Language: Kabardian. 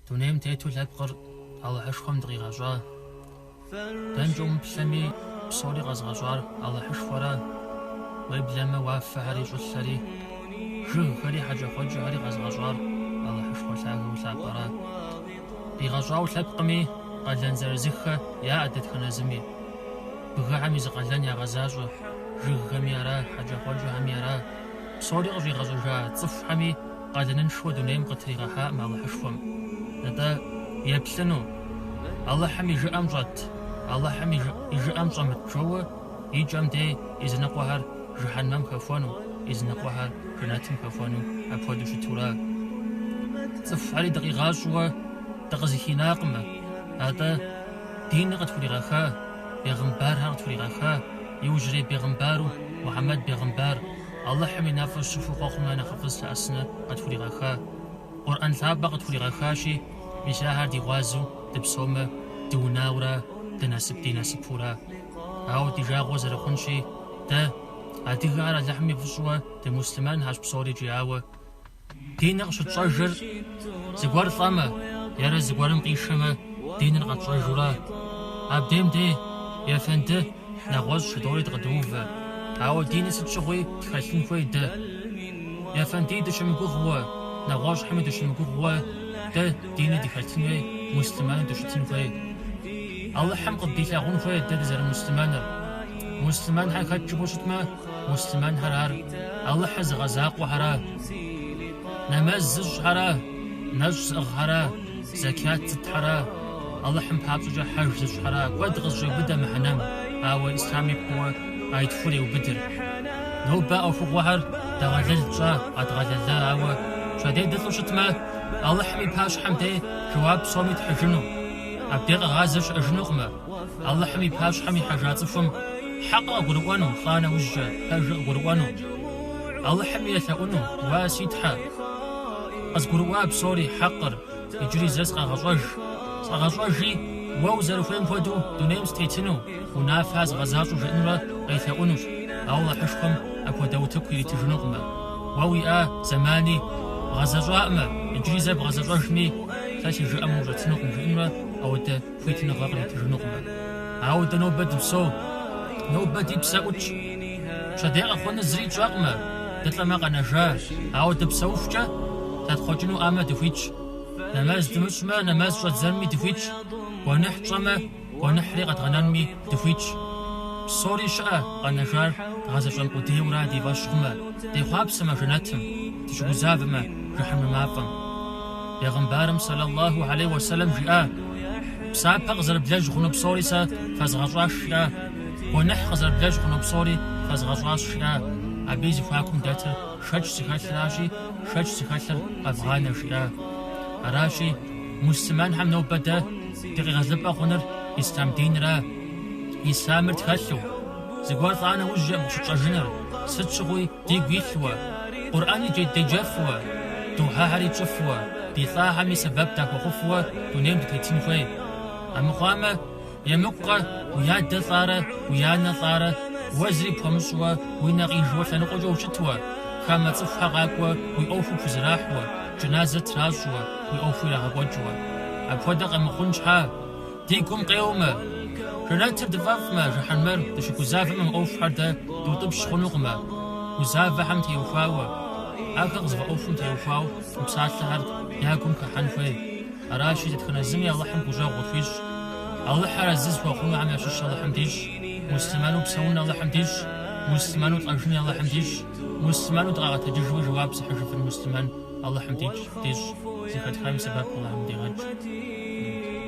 Дунейм тету лъэпкъыр Алыхьышхуэм дыкъигъэщӏа? Дэнкӏэ умыплъэми, псори къэзгъэщӏар Алыхьышхуэра? Уеблэмэ, уафэхэри щӏылъэри, жыгхэри хьэкӏэкхъуэкӏэхэри къэзгъэщӏар Алыхьышхуэ лъагэу лъапӏэра? Къигъэщӏауэ лъэпкъми, къалэн зырызыххэ яӏэ дэтхэнэ зыми. Бгыхэми зы къалэн ягъэзащӏэ, жыгхэми ара, хьэкӏэкхъуэкӏэхэми ара, псори къыщӏигъэщӏыжа цӏыхухэми къалэныншэу дунейм къытригъэхьаӏым Алыхьышхуэм. Атӏэ, еплъыну? Алыхьым и жыӏэм щӏэт, Алыхьым и жыӏэм щӏэмыт жэуэ и кӏэм дей и зыныкъуэхэр жыхьэнмэм хэхуэну, и зыныкъуэхэр жэнэтым хэхуэну апхуэдэу щытура? Цӏыхухьэри дыкъигъэщӏуэ дыкъызыхинакъымэ, атӏэ, диныр къытхуригъэха, бегъымбархэр къытхуригъэха, иужьрей бегъымбару Мухьэмэд бегъымбар, Алыхьым и нэфӏыр щыхуэ, хъуэхъум я нэхъыфӏыр зылъэӏэсыныр къытхуригъэха Къурӏэн лъапӏэ къытхуригъэхащи, мис ахэр ди гъуазэу дыпсэумэ, дыунауэра, ды насып ди насыпура. Ауэ ди жагъуэ зэрыхъунщи, дэ, адыгэхэр Алыхьым и фӏыщӏэуэ дымуслъымэнхэщ псорикӏ, ауэ, Диныр къыщытщӏэжыр зыгуэр лӏэмэ е зыгуэрым къишэмэ, диныр къэтщӏэжура. Абдем дей, ефэнды, нэгъуэщӏ жыдоӏэри дыкъыдыувэ. Ауэ диныр сыт щыгъуи тхэлъын хуей дэ. Ефэндыи дыщымыгугъуэ, нэгъуэщӏхэми дыщымыгугъуэ, дэ дини дыхэлъын хуей, муслъымэну дыщытын хуей. Алыхьым къыддилъагъун хуей дэ дызэрымуслъымэныр. Муслъымэнхэр хэт жыпӏэу щытмэ, муслъымэнхэр ар Алыхьыр зыгъэзакъуэхэра, нэмэз зыщӏхэра, нэщӏ зыӏыгъхэра, зэкят зытхэра, Алыхьым папщӏэкӏэ хьэж зыщӏхэра, куэд къызыщӏеубыдэ мыхьэнэм, ауэ Ислъам и пкъоуэ а итхур еубыдыр. Нобэ а ӏуэхугъуэхэр дэгъэлэл тщӏа, къэдгъэлэла, ауэ пщэдей дылӏу щытмэ, Алыхьым и пащхьэм дей жэуап псоми тхьыжыну, абдей къэгъазэ щыӏэжынукъымэ. Алыхьым и пащхьэм ихьэжа цӏыхум хьэкъыр къыгурыӏуэну, лӏа нэужькӏэ, пэжыр къыгурыӏуэну, Алыхьым елъэӏуну, уа, си Тхьэ, къызгурыӏуа псори, хьэкъыр, иджыри зэ сыкъэгъэщӏэж, сыкъэгъэщӏэжи, уэ узэрыхуейм хуэдэу дунейм сытетыну, уи унафэ згъэзащӏэу жиӏэнурэ къелъэӏунущ, ауэ Алыхьышхуэм апхуэдэ утыку иритыжынукъымэ. Уэ уиӏа зэмани бгъэзэщӏакъымэ, иджыри зэ бгъэзэщӏэжми, сэ си жыӏэм ущӏэтынукъым, жиӏэнурэ апхуэдэ. хуитыныгъэ къритыжынукъымэ. Ауэ дэ нобэ дыпсэу, нобэ ди псэ ӏутщ. Пщэдей къэхъуну зыри тщӏэкъымэ, дылӏэмэ къэнэжа, ауэ дыпсэухукӏэ, зэтхъуэкӏыну ӏэмэ дыхуитщ. Нэмэз дымыщӏмэ, нэмэз щӏэдзэнми дыхуитщ, гуэныхь тщӏэмэ, гуэныхьри къэдгъэнэнми. дыхуитщ. Псори щыӏэ, къэнэжар дгъэзэщӏэн къудейуэ-ра ди фӏэщ хъумэ, дехъуапсэмэ жэнэтым, дыщыгузавэмэ жыхьэнмэ мафӏэм. Бегъымбарым сэлаллаху гьэлей уэсэлэм жиӏа, Псапэ къызэрыблэжь хъуну псори сэ фэзгъэщӏащ, жиӏа, гуэныхь къызэрыблэжь хъуну псори фэзгъэщӏащ, жиӏа, абы и зэхуакум дэтыр шэч зыхэлъыращи, шэч зыхэлъыр къэвгъанэ, жиӏа. Аращи. Муслъымэнхэм нобэ дэ ди къегъэлыпӏэ хъунур ислъам динрэ, ислъамыр тхэлъу, зыгуэр лӏа нэужькӏэ къыщытщӏэжыныр, сыт щыгъуи дигу илъуэ, Къурӏэни дже деджэфуэ, духьэхэри тщӏыфуэ, ди лӏахэми сэбэп дахуэхъуфуэ дунейм дытетын хуей. Амыхъуамэ. Емыкӏукъэ, уи адэ лӏарэ, уи анэ лӏарэ, уэ зыри пхуэмыщӏыуэ, уи нэ къижыуэ лъэныкъуэкӏэ ущытуэ, хамэ цӏыхухэр къакӏуэ уи ӏуэху пхузэрахьуэ, джыназэр тращӏуэ, уи ӏуэху ирагъэкӏуэкӏыуэ. Апхуэдэ къэмыхъун щхьа? Ди гум къеуэмэ, жэнэтыр дыфӏэфӏмэ, жыхьэнмэр дыщыгузавэмэ мы ӏуэхухэр дэ дутӏыпщ хъунукъымэ, гузавэхэм теухуауэ, ахэр къызэфӏэӏуэхум теухуауэ мы псалъэхэр я гум хыхьэн хуей. Аращи, дэтхэнэ зыми Алыхьым гущӏэгъу къытхуищӏ. Алыхьыр арэзы зыхуэхъунухэм ящыщ Алыхьым дищӏ. Муслъымэну псэун Алыхьым дищӏ. Муслъымэну лӏэжыни Алыхьым дищӏ. Муслъымэну дыкъагъэтэджыжми жэуап зыхьыжыфын муслъымэн Алыхьым дищӏ. Зэхэтхам и сэбэп Алыхьым къыдигъэкӏ.